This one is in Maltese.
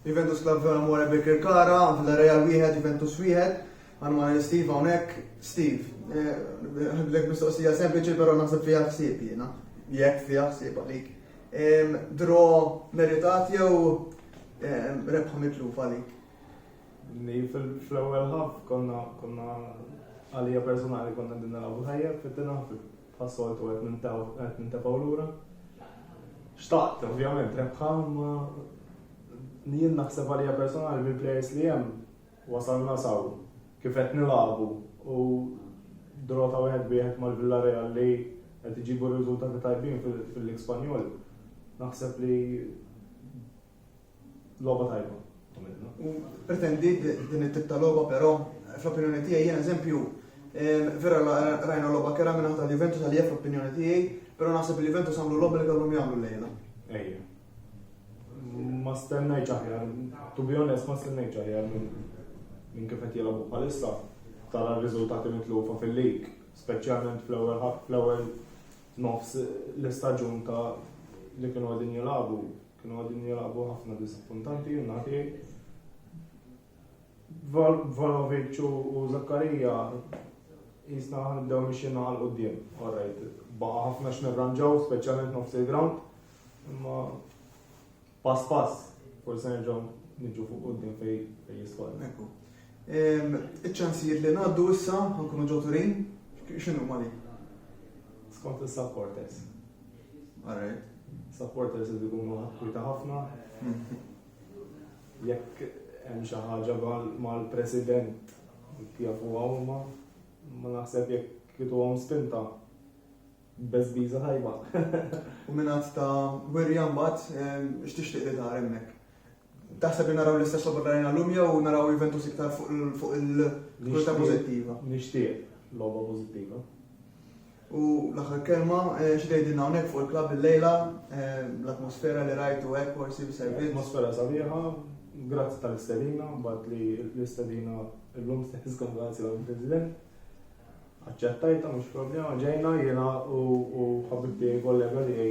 Juventus Club Vela More Birkirkara, Villarreal wieħed, Juventus wieħed. Għandu ma' li Steve hawnhekk. Steve, ħadlek eh, mistoqsija sempliċi però naħseb fiha ħsieb jiena. Jekk fiha ħsieb għalik. Dro meritat jew rebħa mitluf għalik? Fl-ewwel ħaf konna konna għalija personali konna din naraw ħajja fit-tina Bħas-soltu qed nintefgħu lura. Xtaqt, ovvjament, rebħa, imma jien naħseb għalija personali bil-plejers li hemm wasalna saw kif qed nilagħbu u drota wieħed wieħed mal-Villarreal li qed iġibu riżultati tajbin fil-Lig Spanjol. Naħseb li Logħba tajba. Pretendi din it-tip ta' logħba però fl-opinjoni tiegħi jien eżempju vera rajna logħba kera minn ħadd Juventus għalija fl-opinjoni tiegħi, però naħseb li Juventus għamlu logħba li kellhom jagħmlu lejla. Ejja. Ma stennejt aħjar, to be honest ma stennejt aħjar minn kif qed jilgħabu bħalissa tara r-riżultati mitlufa fil-lig, speċjalment fl-ewwel fl-ewwel nofs l-istaġun ta' li kienu għadin jilagħbu Kienu qegħdin jilagħbu ħafna diżappuntanti jien naħdej. Volovic u Zakkarija jisna nibdew mixin għal qudiem. Alright, baqa' ħafna x'nirranġaw, speċjalment nofs il-ground. Imma pass pass, forse nerġgħu niġu fuq qudiem fej jisfall. Ekku. Iċ-ċansijiet li ngħaddu issa nkunu ġoturin, x'inhu ma li? Skont is-subporters. Alright. Supporters li jkunu ħakkwita ħafna. Jekk hemm xi ħaġa mal-president jafu huma ma naħseb jekk kitu għom spinta bezbiza tajba. U minnat ta' werja mbagħad x'tixtieq li tara hemmhekk. Taħseb li naraw l-istess logħba rajna llum jew naraw Juventus iktar fuq il-kulta pożittiva? Nixtieq logħba pożittiva. U l-aħħar kelma, eh, xi tgħidilna hawnhekk fuq il-klabb il-lejla, eh, l-atmosfera li rajtu hekk forsi servizz. Atmosfera sabiħa, grazzi tal-istedina, mbagħad li l-istedina llum stess kon grazzi għall-President. Aċċettajta mhux problema, ġejna jiena u ħabibti kollega li